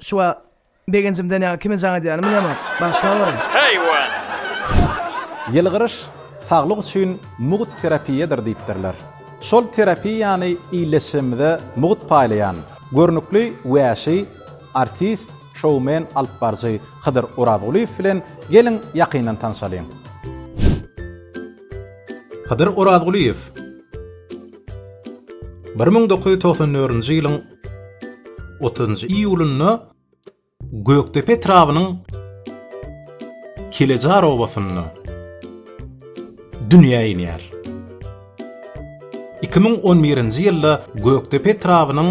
Şuwa, begenjimden ýaňa kime jaň edýänim bilemok. Bagyşlaweriň. Haýwan! Ýylgyryş saglyk üçin mugt terapiýadyr diýipdirler. Şol terapiýany ildeşimize mugt paýlaýan, görnükli wäşi artist, şoumen, alypbaryjy Hydyr Orazgulyýew bilen geliň ýakyndan tanşalyň. Hydyr Orazgulyýew bir müň dokuz ýüz togsan dördünji ýylyň 30-njy iýulynda Gökdepe etrabynyň Kilejar obasynda dünýä inýär. 2011-nji ýylda Gökdepe etrabynyň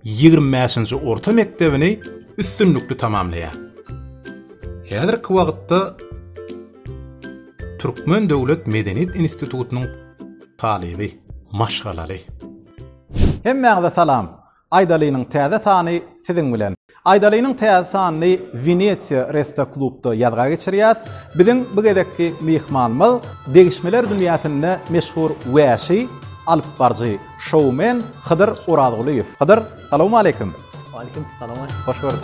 25-nji orta mekdebini üstünlikli tamamlaýar. Häzirki wagtda Türkmen döwlet medeniýet institutynyň talyby, maşgalaly. Hemmäňize salam! Aýdalynyň täze sany siziň bilen. Aýdalynyň täze sanyny Wenesiýa Resta Klubda ýazga geçirýäs. Biziň bu gezekki myhmanymyz degişmeler dünýäsinde meşhur wäşi, alypbaryjy, şoumen Hydyr Orazgulyýew. Hydyr, salowmaleýkim! Waleýkim salam! Hoş gördük!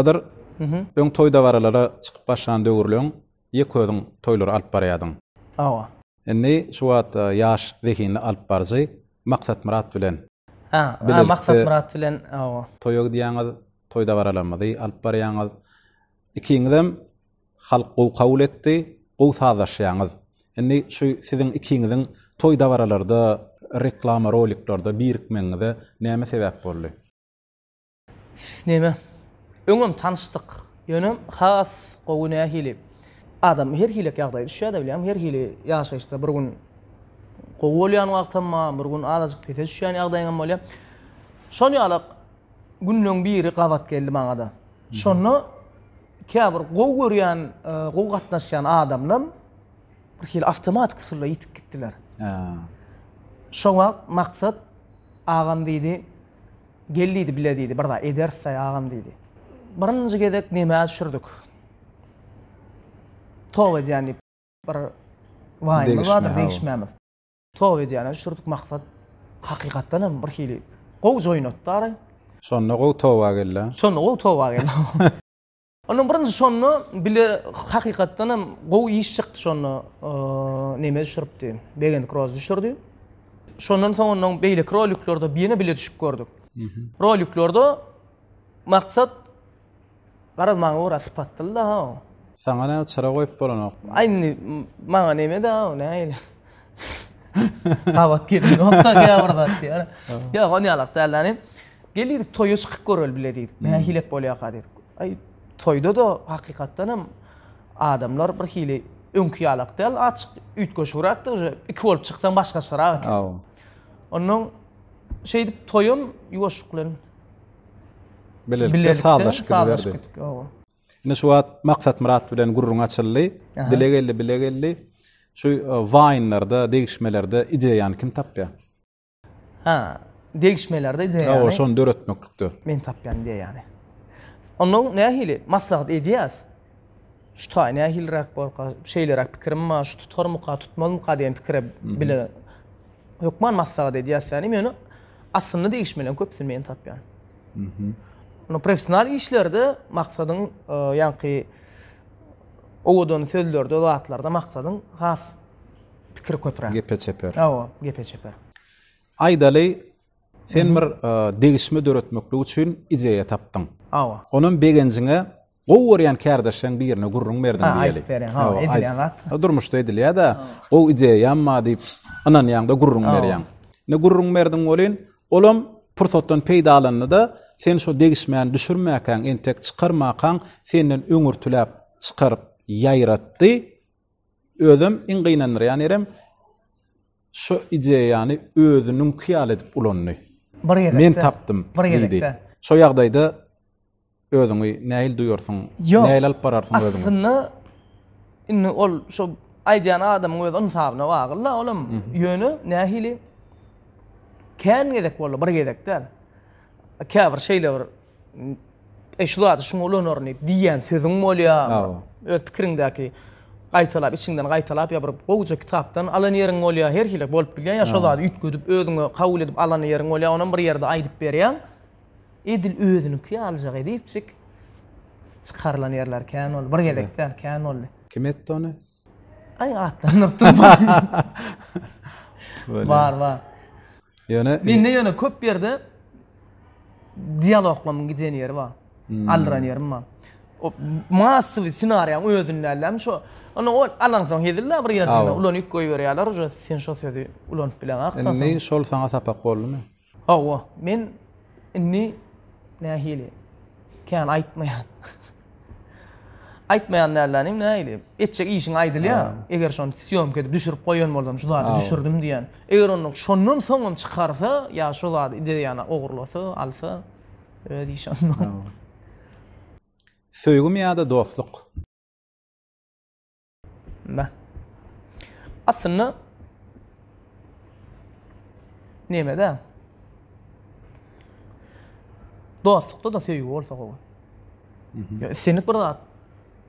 Hydyr, öň toý-dabaralara çykyp başlan döwürleň ýeke özüň toýlary alyp barýardyň. Hawa. Indi şu wagt ýaş, zehinli alypbaryjy Maksatmyrat bilen. Ha, Maksatmyrat bilen, hawa. Toýa gidýäňiz, toý-dabaralarymyzy alyp barýaňyz. Ikiňizem halk gowy kabul etdi, gowy sazlaşýaňyz. Indi şu siziň ikiňiziň toý-dabaralarda, reklama roliklerde birikmegiňize näme sebäp boldy? Neme? Öňem tanyşdyk. Ýöne has gowy nähili? Adam her hili ýagdaýa düşýär-de bilýäňmi? Her hili ýaşaýyşda bir gün gowy bolýan wagtam bar, bir gün azajyk pese düşýän ýagdaýyňam bolýar. Şol ýaly günleň biri gabat geldi maňa-da. Şonda käbir gowy görýän, e, gowy gatnaşýan adamlar bir hili awtomatik usulda ýitip gitdiler. Şo wagt Maksat agam diýdi, Gel diýdi, bile diýdi, bir zat ederis-dä agam diýdi. Birinji gezek nemäz düşürdik. Toba edýän diýip bir waýymyz bardyr, degişmämiz. Toba edýäne düşürdik, maksat hakykatdan hem bir hili gowy joýnatdy araý. Şonda gowy toba geldi-ä. Şonda gowy toba geldi. Onda birinji şonda bile hakykatdan hem gowy iş çykdy şonda neme düşüripdi. Begend Kroz düşürdi. Şondan soň ondan beýleki roliklerde ýene bile düşüp gördük. Roliklerde maksat garaz maňa ora sypatdyl da ha. Saňa näme çyra goýup bolanok. Aý indi maňa neme da o näle. Gabat geldi. Onda gabat diýär. Ýa ony alak däldi. Gel diýdik toýa çykyp göreli bile diýdik. Nähilek bolýarka diýdik. Aý toýda-da hakykatdan hem adamlar bir hili öňki ýalak däl, açyk üýtgeşigräkdi, uje iki bolup çyksaň başgaçarak eken. Aw. Ondan şeýdip toýam ýuwaşlyk bilen bilelikde sazlaşyp gidiberdi. Aw. Ine şu wagt Maksatmyrat bilen gürrüň açyldy. Dile geldi, bile geldi. Şu waýnlarda, degişmelerde ideýany kim tapýar? Ha, degişmelerde diýýär. Hawa, şony döretmeklikde. Men tapýan diýýär ýaly. Onda nähili maslahat edýäs? Şu taý nähiliräk bolka, şeýleräk pikirim bar, şu tutarmyka, tutmazmyka diýen pikire bile hökman maslahat edýäs ýaly. Men ony aslynda degişmeleriň köpüsini men tapýan. Onda professional işlerde maksadyň e, ýaňky owadan sözlerde, zatlarda maksadyň has Pikir köpüräk. Gepe çeper. Hawa, gepe çeper. Aýdaly, sen bir degişme döretmeklik üçin ideýa tapdyň. Hawa. Onam begenjiňe gowy görýän kärdeşleriň birine gürrüň berdiň diýeli. Aýdyp berýän, hawa, edilýän zat. Durmuşda edilýär-de, gowy ideýam bar diýip ynanýaň-da gürrüň berýäň. Indi gürrüň berdiň welin, olam pursatdan peýdalandy-da, sen şo degişmäni düşürmäkäň, entek çykarmakaň, senden öňürtiläp çykaryp ýaýratdy. Özem iň gynandyrýan ýerem şo ideýany özüniňki ýaly edip ulandy. Bir gezekde. Men tapdym diýdi. Şo ýagdaýda özüňi nähili duýarsyň? Nähili alyp bararsyň özüňi? Aslynda indi ol şo aýdýan adamyň öz ynsabyna bagly-la olam. Ýöne nähili kän gezek boldy, bir gezek däl. Käbir şeýle bir E şu zady şuňa ulanaryn diýip diýýän sözüň bolýarmy? Öz pikiriňdäki gaýtalap, içiňden gaýtalap ýa bir gowuja kitapdan alan ýeriň bolýar, her hili bolup bilýär. Ýa şo zady üýtgedip özüňe kabul edip alan ýeriň bolýar, onam bir ýerde aýdyp berýäň. Edil özüniňki ýalyjak edipjik çykarylan ýerler kän boldy. Bir gezek däl, kän boldy. Kim etdi ony? Aý atlandyryp durmaň. Bar bar. Ýöne mende ýöne köp ýerde dialoglaryň giden ýeri bar. Hmm. Aldyran ýerim bar. O massowy ssenariýaň özünde älämi şo. Onda ol alansoň hezilde bir ýerçinde ulanyp goýberýärler, uje sen şo sözi ulanyp bileňak. Indi şol saňa sapak boldumy? Hawa, men indi nähili? Kän aýtmaýan. Aýtmaýan dälläni indi nähili? Etjek işiň aýdylýar. Eger şony sýomka edip düşürip goýan bolsam, şu zady düşürdim diýen. Eger ondan şondan soňam çykarsa ýa şo zady ideýany ogurlasa, alsa, öz işi ondan. Söýgümi ýa-da dostluk? Aslynda Nemede? Dostlukda da söýgi bolsa gowy. Ýa islendik bir zat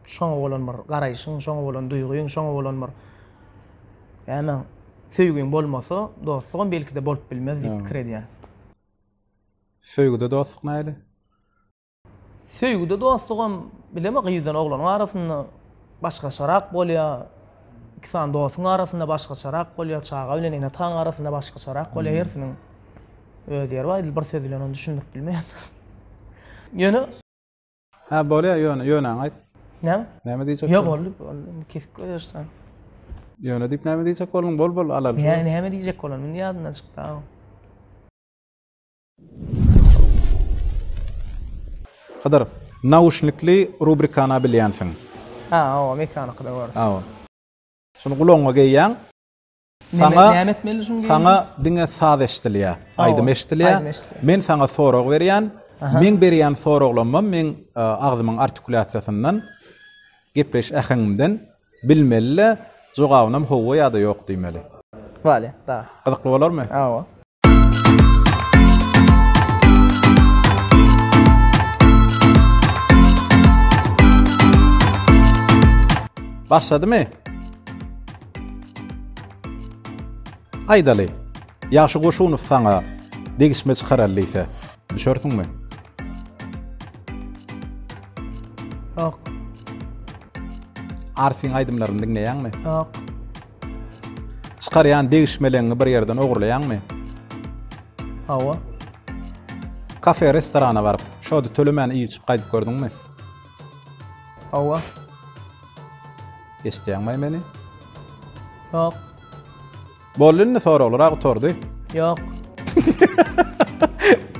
şoňa bolan bir garaýşyň, şoňa bolan duýgyň, şoňa bolan bir näme söýgiň bolmasa, dostlugam belki-de bolup bilmez diýip pikir edýän. Söýgüde dostluk nähili? Söýgüde dostlugam bileme gyzdan oglanyň arasynda başgaçarak bolýa, iki sany dostuň arasynda başgaçarak bolýa, çaga bilen ene ataň arasynda başgaçarak bolýa hersiniň öz ýeri bar edil bir söz bilen ony düşündirip bilmeýän. Ýöne Hä bolýa ýöne ýöneňi aýt. Näme? Näme diýjek? Ýa boldy boldy kesip goýarsan. Ýöne diýip näme diýjek bolduň bol bol alalyş. Näme näme diýjek bolan indi ýadyndan çykda. Hydyr, nauşnikli rubrikana bilýänsiň. Ha, hawa, mekanyky-da görüs. Hawa. Şuny gulagyňa geýýäň. Saňa, näme etmeli şuny geýinip? Saňa diňe saz eşdilýär, aýdym eşdilýär. Men saňa sorag berýän. Meň berýän soraglamam meň agzymyň artikulýasiýasyndan, gepleýiş äheňimden Bilmelilä, jogabynam howwa ýa-da ýok diýmeli. Wale, da. Gyzykly bolarmy? Hawa. Başladymy? Aýdaly, Ýagşy Goşunow saňa degişme çykaralydýse. Düşersiňmi? Ýok. Arsyň aýdymlaryny diňleýäňmi? Ýok. Çykarýan degişmeleňi bir ýerden ogurlaýaňmy? Hawa. Kafe, restorana baryp, şody tölemän iýip-içip gaýdyp gördüňmi? Hawa. Eşidýäňmi meni? Ýok. Boldy indi soraglara gutardy. Yok.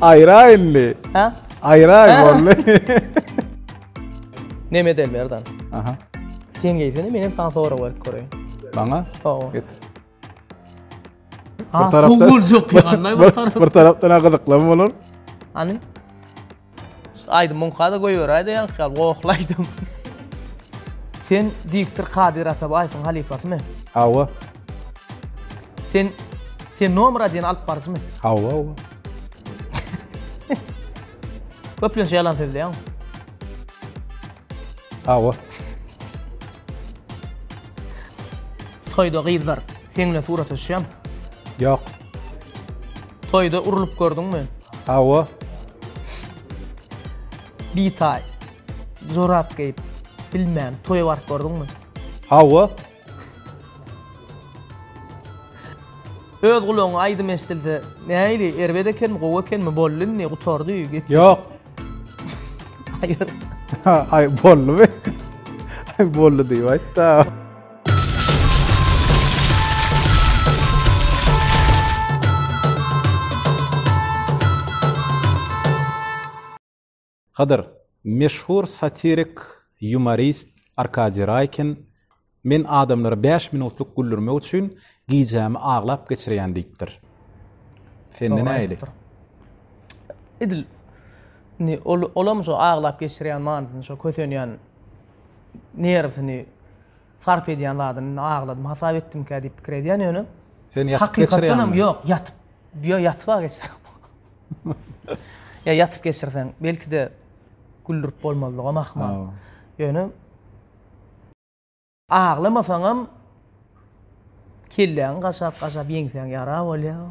Ayra indi. Ha? Ayra boldu. Nemet Elmerdan. Aha. Sen geysene menem sana sorag berip koreyin. Bana? Oo. Git. Ha, tarafta- Google yok ya. Anlay bir taraf. bir tarafdan ha gyzyklam bolar. Hani? Aýdym muňkada goýberäýde ýaňky ýaly gohly aýdym. Sen diktor Kadyr Atabaýewiň halypasymy? Hawa. Sen sen nomera diýen alyp baryjymy? Hawa, hawa. Köplenç ýalan sözleýäňmi? Hawa. Toýda gyzlar seň bilen surata düşýärmi? Ýok. Toýda urlup gördüňmi? Hawa. Bitaý. Jorap geýip bilmän toýa baryp gördüňmi? Hawa. Öz gulagyňa aýdym eşdilse näili erbet ekenmi gowy ekenmi boldy indi gutardy gep. Ýok. Aýyr. Aý boldumy? Aý boldy diýip aýtda. Hydyr, meşhur satirik ýumorist Arkadiý Raýkin Men adamlary bäş minutlyk güldürmek üçin Gijämi aglap geçirýän diýipdir. Sende nähili? Edil indi olam şo aglap geçirýän manysyny şo kösenýän nerwsini sarp edýän zadyny indi agladym hasap etdimkä diýip pikir edýän ýöne. Sen ýatyp geçirýäňmi? Ýok, ýatyp. Ýok, ýatyp-a geçirýän. Ýa ýatyp geçirseň, belki-de güldürip bolmazlygam ahmal. Ýöne. Aglamasaňam kelläňi gaşap gaşap ýeňsäň ýara bolýa.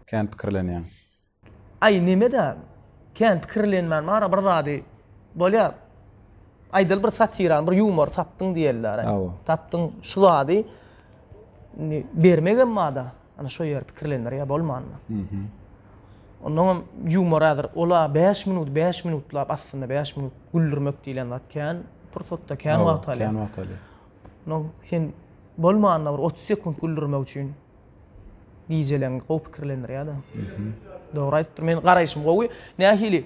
Kän pikirlenýäň. Aý nemedä kän pikirlenmän bara bir zady bolýa aýdaly bir satirany bir ýumory tapdyň diýeliär aý tapdyň şu zady indi bermegem bada ana şo ýeri pikirlendirýä bolmanmy. Onnoň hem ýumora ädir. Ol-a bäş minut, bäş minutlap aslynda bäş minut güldürmek diýlen zat kän pursatda, kän wagt alýar. Kän wagt alýar. Onnoň sen bolmanda bir otuz sekunt güldürmek üçin gijeleň gowy pikirlendirýär-de. Dogry aýdypdyr. Meniň garaýşym gowy. Nähili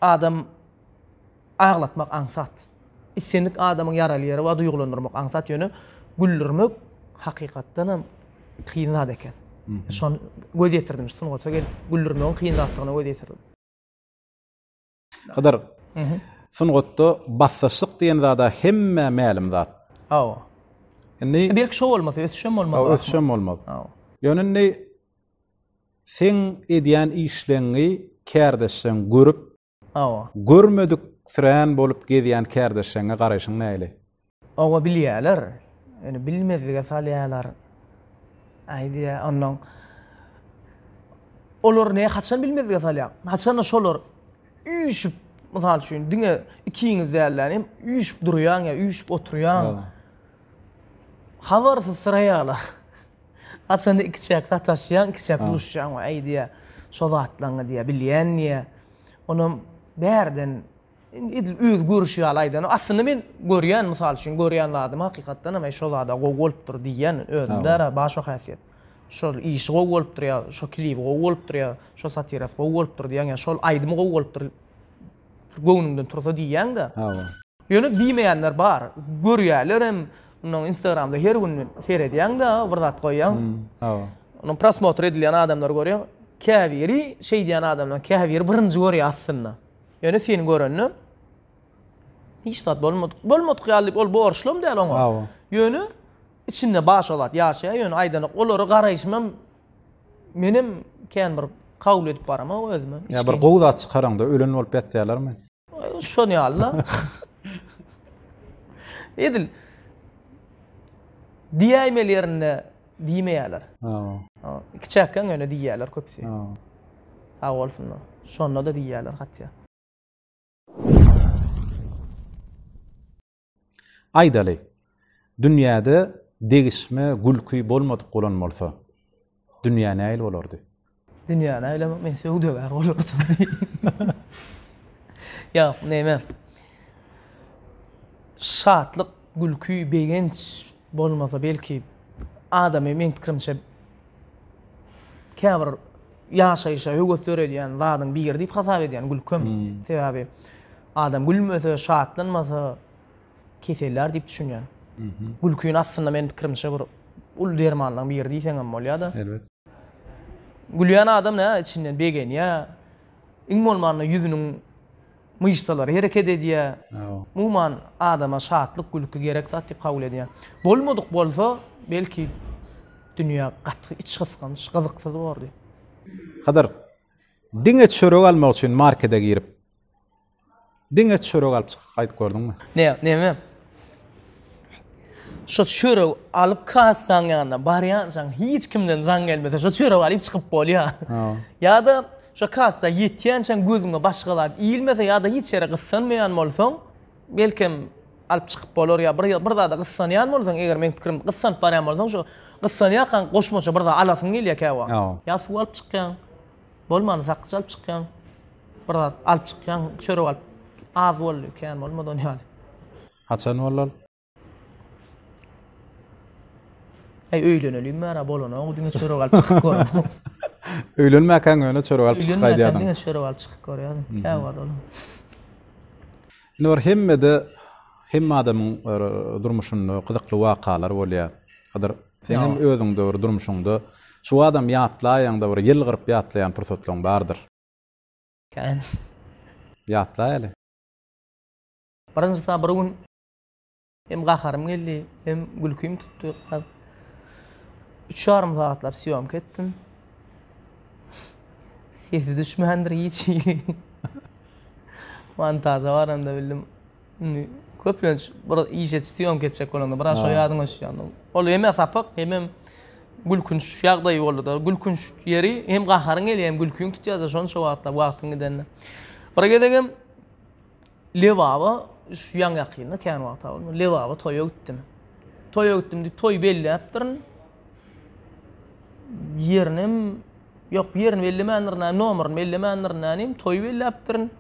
adam Aglatmak aňsat. Islendik adamyň ýaraly ýeri bar, duýgulandyrmak aňsat, ýöne güldürmek hakykatdan hem kyn zat eken. Şony göz ýetirdim, şu sungata gelip güldürmegiň kyn zatdygyna göz ýetirdim. Hydyr, sungatda basdaşlyk diýen zad-a hemmä mälim zat. Hawa. Indi Belki şo bolmasa ösüş hem bolmaz. Hawa, ösüş hem bolmaz. Hawa. Ýöne indi seň edýän işleňňi kärdeşleň görüp, Hawa. Görmedik sirän bolup gezýän kärdeşleňňe garaýşyň näli? Oba bilýäler. Ýöne bilmezlige salýalar. Aýdýa onnoň Olar ne haçan bilmezlige salýar? Haçanda şolar üýşüp mysal üçin diňe ikiňiz dälde ýanem üýşüp durýaň ýa üýşüp oturýaň. Habarsyzsyraýalar. Haçanda ikiçäk sataşýaň, ikiçäk duşýaň we aýdýar, şo zatlaňňy diýýär, bilýän diýýär. Onam bärden indi edil özi görüşi ýaly aýdan. Aslynda men görýän, mysal üçin, görýän zadymy hakykatdan hem, aý, şo zad-a gowy bolupdyr diýýän, özümde-de bar şo häsiýet. Şol işi gowy bolupdyr ýa şo klibi gowy bolupdyr ýa şo satirasy gowy bolupdyr diýýän ýa şol aýdymy gowy bolupdyr. Bir göwnüňden tursa diýýäň-dä. Hawa. Ýöne diýmeýänler bar. Görýärlerem. Munuň Instagramda her gün seredýäň-dä, bir zat goýýaň. Hawa. Onuň prosmotr edilýän adamlary görýäň. Käbiri şeýdýän adamlaryň käbiri birinji görýär aslynda. Ýöne seni görende hiç zat bolmadyk, bolmadyk ýaly diýip ol borçlam däl oňa. Hawa. Ýöne içinde başga zat ýaşaýar, ýöne aýdanok, olara garaýşym hem Menem kän bir kabul edip baramok özüme. Ýa bir gowy zat çykaraňda ölen bolup ýatýalarmy? Şon ýaly-la. Edil diýäýmeli ýerinde diýmeýärler. Hawa. Kiçäkkäň ýöne diýýärler köpüsi. Hawa. Sag bolsunlar. Şonda-da diýýärler hatýa. Aýdaly, dünýäde degişme, gülki bolmadyk bolan bolsa, dünýä nähili bolardy? Dünýä nähili, men söwdagär bolardym. Ýok, näme. Şatlyk, gülki, begenç bolmasa belki, adamy meň pikirimçe käbir ýaşaýşa höwes döredýän zadyň biri diýip hasap edýän gülkem. Sebäbi Adam gülmese, şatlanmasa, kesellär diýip düşünýän. Gülkini aslynda meniň pikirimçe bir uly dermanlaryň biri diýseň hem bolýar-da. Elbet. Gülýän adam nä içinden begenýär. Iň bolmanda ýüzüniň myşsalary hereket edýär. Umuman adama şatlyk, gülki gerek zat diýip kabul edýän. Bolmadyk bolsa, belki dünýä gaty içgysgynç, gyzyksyz bordy. Hydyr, diňe çörek almak üçin markede girip, Diňe çörek alyp çykyp gaýdyp gördüňmi? Ne, neme? Şo çörek alyp kassaň ýanyna barýançaň hiç kimden jaň gelmese şo çörek alyp çykyp bolýa. Ýa-da şo kassa ýetýänçäň gözüňe başga zat ilmese ýa-da hiç ýere gyssanmaýan bolsaň, belkem alyp çykyp bolar ýa bir bir zada gyssanýan bolsaň, eger meň pikirim gyssanyp barýan bolsaň şo gyssanýarkaň goşmaça bir zat alasyň gelýä käwagt. Ýa suw alyp çykýaň. Bolmany sakja alyp çykýaň. Bir zat alyp çykýaň, çörek alyp. Az boldy, kän bolmady ony ýaly. Haçan bolal? Aý öýleneliň bära bolanok diňe çörek alyp çykyp görüň. Öýlenmäkäň ýöne çörek alyp çykyp gaýdýardyň. Öýlenmäkäň diňe çörek alyp çykyp görýärdim. Käwagt olam. Indi bir hemmede hemme adamyň durmuşynda gyzykly wakalar bolýar. Hadyr Sen hem özüňde bir durmuşyňda şu adam ýatlaýaňda bir ýyl gyryp ýatlaýan pursatlaryň bardyr. Kän. Ýatlaýaly. Birinjisi bir gün hem gaharym geldi, hem gülkim tutdy. Üç ýarym sagatlap sýomka etdim. Sesi düşmändir hiç hili. Montaža baranda bildim. Indi köplenç bir iş et, syýomka etjek bolanda biraz şo ýadyňa düşýär. Indi ol hemem sapyk, hemem gülkünç ýagdaý boldy-da. Gülkünç ýeri hem gaharyň gelýär, hem gülkiň tutýar-da şonça wagtlap wagtyň gidende. Bir gezegem Lebaba şu ýaňy-ýakynda kän wagta bolmaz, Lebaba toýa gitdim. Toýa gitdim diýip toý belläpdirin. Ýerinem, ýok ýerini bellemändirin, nomerini bellemändirin näme diýeyim, toý belläpdirin.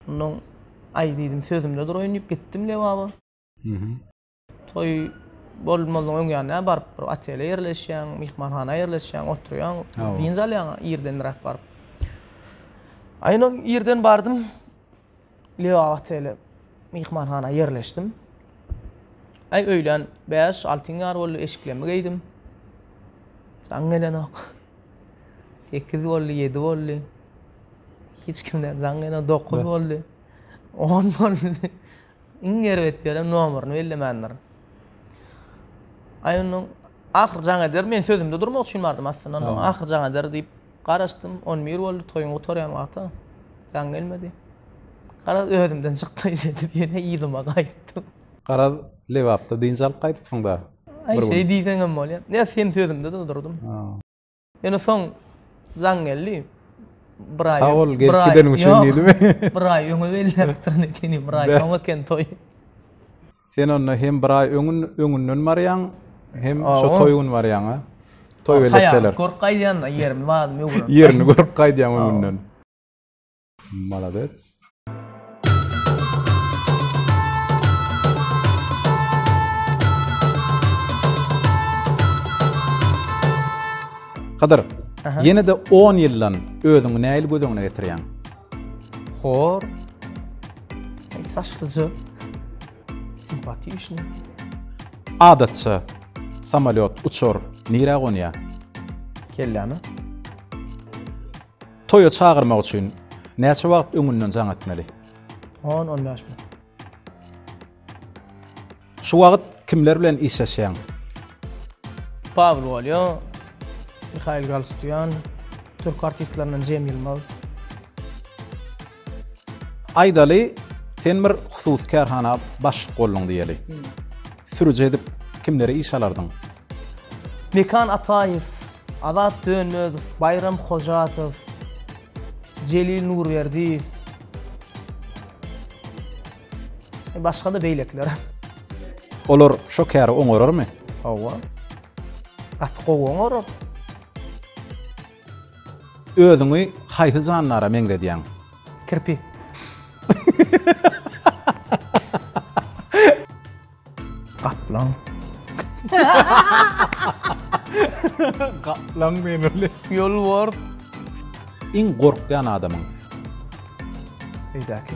Ondan aý diýdim, sözümde duraýyn diýip gitdim Lebaba. Toý bolmazynyň öň ýanyna baryp, bir otele ýerleşýäň, myhmanhana ýerleşýäň, oturýaň, dynç alýaň irdenräk baryp. Aýna irden bardym, Lebaba otele, myhmanhana ýerleşdim. Aý öýlän bäş, altyň ýary boldy, eşiklerimi geýdim. Jaň gelenok. Sekiz boldy, ýedi boldy. Hiç kimden jaň gelmedi. Dokuz boldy. On boldy. Iň erbet ýerem nomerini bellemändirin. Aý ondan ahyr jaň eder, men sözümde durmak üçin bardym aslynda. Ondan ahyr jaň eder diýip garaşdym. On bir boldy, toýuň gutarýan wagty. Jaň gelmedi. Garaz özümden çykdy, şeýdip ýene yzyma gaýtdym. Garaz, Lebapda dynç alyp gaýdypsyň-da. Aý şeý diýseňem bolýar. Näs hem sözümde durdurdym. Ýöne soň jaň geldi. Bir aý. Sag bol, gelip gideniň üçin diýdimi? Bir aý öňe belläpdirin ekeni, bir aý soň eken toý. Sen onda hem bir aý öňün öňünden barýaň, hem şu toý gün barýaň, a? Toý beletdeler. Taýýarlyk görüp gaýdýan-da, ýerimi, badymy öwrenip. Ýerini görüp gaýdýaň öňünden. Maladets. Hydyr, ýene-de 10 ýyldan özüňi nähili göz öňüne getirýäň? Hor. Saçlyja. Simpatiýşny. Adatça samolyot uçar, nirä gonýar? Kelläme. Toýa çagyrmak üçin näçe wagt öňünden jaň etmeli? On, on bäş minut. Şu wagt kimler bilen işleşýäň? Pawel Wolýo, Mihail Galstýan, türk artistlerinden Jemil Mal. Aýdaly, sen bir hususy kärhana başlyk bolduň diýeli. Sürüji edip kimleri işe alardyň? Mekan Ataýew, Azat Dönmezow, Baýram Hojatow, Jelil Nurberdiýew. Başga-da beýlekiler. Olar şo käri oňararmy? Hawa. Gaty gowy oňarar. Özüňi haýsy jandara meňzedýäň? Kirpi. Gaplaň. Gaplaň diýen weli. Ýolbars. Iň gorkýan adamyň? Öýdäki.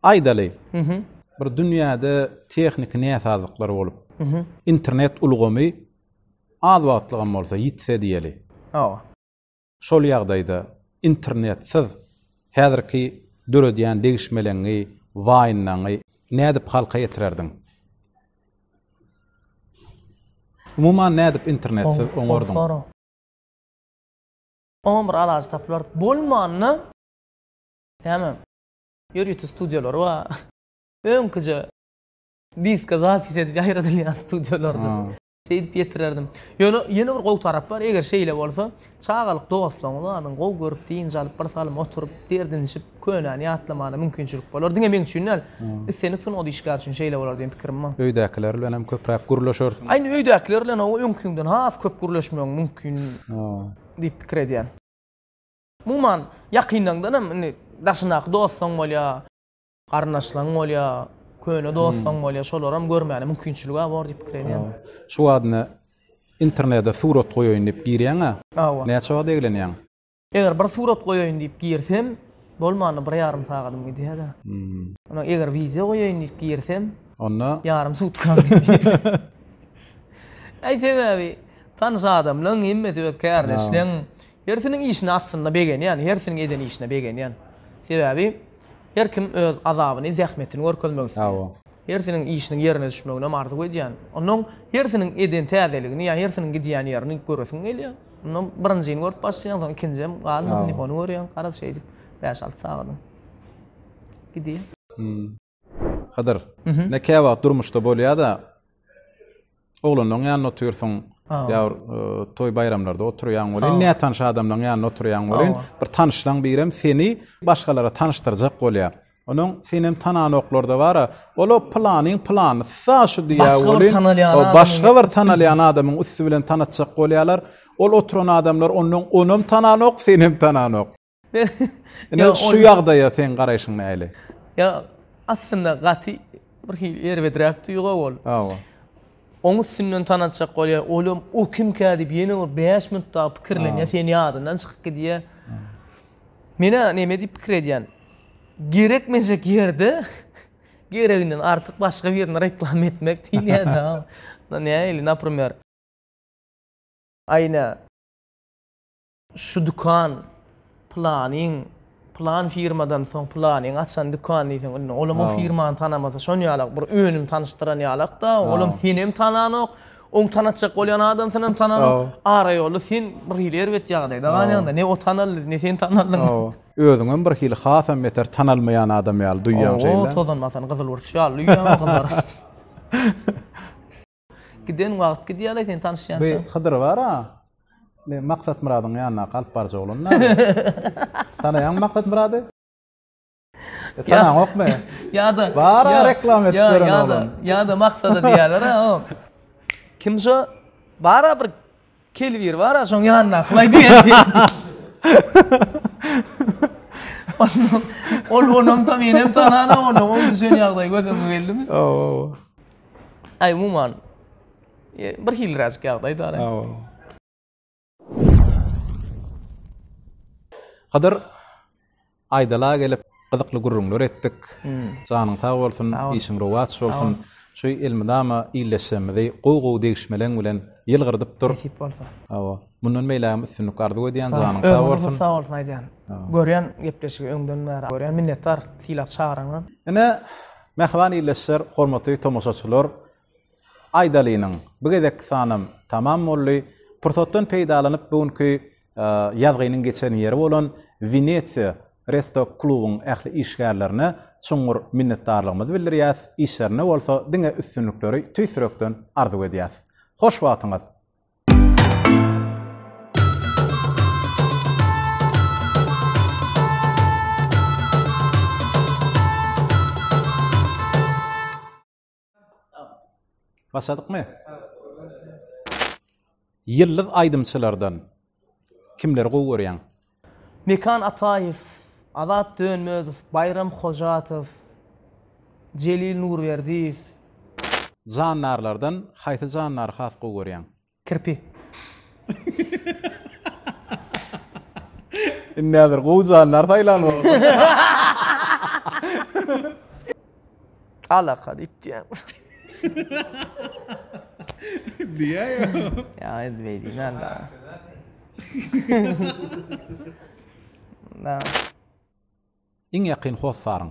Aýdaly, bir dünýäde tehniki näsazlyklar bolup, internet ulgamy az wagtlygam bolsa ýitse diýeli. Hawa. Şol ýagdaýda internetsiz häzirki döredýän degişmeleňňi, waýnlaňňy nädip halka ýetirerdiň? Umuman nädip internetsiz oňardyň? Oňa bir alajy tapylar. Bolmanda, näme, ýörite studiýalary bar. Öňküje diska zapis edip ýaýradylýan studiýalardyr. Şeýdip ýetirerdim. Ýöne ýene bir gowy tarap bar, eger şeýle bolsa, çagalyk dostlaryňyz, adyňy gowy görüp, dynç alyp, birsalym oturyp, derdinişip, Könäni ýatlamana mümkinçilik bolar. Diňe meň üçin däl, islendik sungat işgäri üçin şeýle bolar diýen pikirim bar. Öýdäkiler bilen hem köpräk gürleşersiň? Indi öýdäkiler bilen hawa öňküňden has köp gürleşmegiň mümkin diýip pikir edýän. Umuman, ýakynlaňdan hem indi daşyndaky dostaň bolýa, garyndaşlaň bolýa, köne dostaň bolýa, şolary hem görmäne mümkinçilig-ä bor diýip pikir edýän. Şu wagt indi internede surat goýaýyn diýip girýäň-ä. Hawa. Näçe wagt eglenýäň? Eger bir surat goýaýyn diýip girsem, bolmanda bir ýarym sagadym gidýär-de. Ondan eger wideo goýaýyn diýip girsem, onda ýarym sutkam gidýär. Äý sebäbi tanyş adamlaň hemmesi öz kärdeşleň, hersiniň işine aslynda begenýän, hersiniň eden işine begenýän. Sebäbi her kim öz azabyny, zähmetini görkezmek isleýär. Hersiniň işiniň ýerine düşmeginem arzuw edýän. Onnoň hersiniň eden täzeligini ýa hersiniň gidýän ýerini göresiň gelýär. Onnoň birinjini görüp başlaýaň, soň ikinjem galmasyn diýip ony görýäň. Garaz şeýdip bäş-alty sagadyň gidýär. Hydyr. Näke wagt durmuşda bolýada. Oglanlaň ýanynda otyrsyň. Ýa bir toý baýramlarda oturýaň welin, nätanyş adamlaň ýanynda oturýaň welin, bir tanyşlaň birem seni başgalara tanyşdyrjak bolýar. Onuň senem tananoklarda bar-a, ol-a pylanyň pylanysy-a şu diýýär welin, başga bir tanalýan adamyň üsti bilen tanatjak bolýarlar. Ol oturan adamlar ondan onam tananok, senem tananok. Ine şu ýagdaýa seň garaýşyň näle? Ýa aslynda gaty bir hili erbedräk duýga ol. Hawa. Oň üstünden tanatjak bolýar. Olam o kimkä diýip ýene bir 5 minut dagy pikirlenýär, sen ýadyndan çykyp gidýär. Menä näme diýip pikir edýän? Gerekmejek ýerde gereginden artyk başga birini reklama etmek diýilýär-de. Nähili, naprimer. Aýna. Şu dükan pylanyň, pylan firmadan soň pylanyň açan dükan diýseň indi olam o firmany tanamasa şon ýalak bir önüm tanyşdyran ýalakda olam senem tananok oň tanatjak bolýan adam synam tananok ara ýolda sen bir hili erbet ýagdaýda galýaňda ne o tanaldy ne sen tanaldyň özüňem bir hili hasam beter tanalmaýan adam ýaly duýýaň şeýle o tozanmasany gyzyl burç ýaly duýýaň gyzlar. Giden wagt gidýärle sen tanyşýança. Bu Hydyr bar-a. Maksat Myradyň ýanyna alyp barjak olandy näme? Tanaýaňmy Maksat Myrady? Tanaňokmy? Ýa-da bar-a reklam edip ýören oglan. Ýa-da Maksada diýerler-a. Kim şu? Bar-a bir Kelbir bar-a şoň ýanyndakylaý diýen. Ol onam ta menem tanana ony, oň düşen ýagdaý göz öňüňe geldimi? Hawa, hawa. Aý, umuman, bir hilräjik ýagdaý dal. Hawa. Kadar Aýdala gelip gyzykly gürrüňler etdik. Janyň sag bolsun, işiň rowaç bolsun. Şu elmydama illeşjegimizi gowy gowy degişmeleň bilen ýylgyrdyp dur. Nesip bolsa. Hawa. Mundan beýlägem üstünlik arzuw edýän, janyň sag bolsun. Özüňe sag bolsun aýdýan. Görýän gepleşigi öňden bäri görýän. Minnetdar sylap çagraňa. Ine, mähriban illeşjer, hormatly tomaşaçylar, Aýdalynyň, bu gezekki sanam tamam boldy. Pursatdan peýdalanyp, bu günki ýazgynyň geçen ýeri bolan Wenesiýa Resto klubyň ähli işgärlerine çuňňur minnetdarlygymyzy bildirýäs, işlerinde bolsa diňe üstünlikleri tüýs ýürekden arzuw edýäs. Hoş wagtyňyz! Başladykmy? Ýyldyz aýdymçylardan kimleri gowy görýäň? Mekan Ataýew, Azat Dönmezow, Baýram Hojatow, Jelil Nurberdiýew. Jandarlardan haýsy jandary has gowy görýäň? Kirpi. Indi häzir gowy janlar saýlan bolsa. Alaka diýip diýýän. Diýýär ýa. Ýa indi beýdýän anda. Na. Iň ýakyn hossaryň.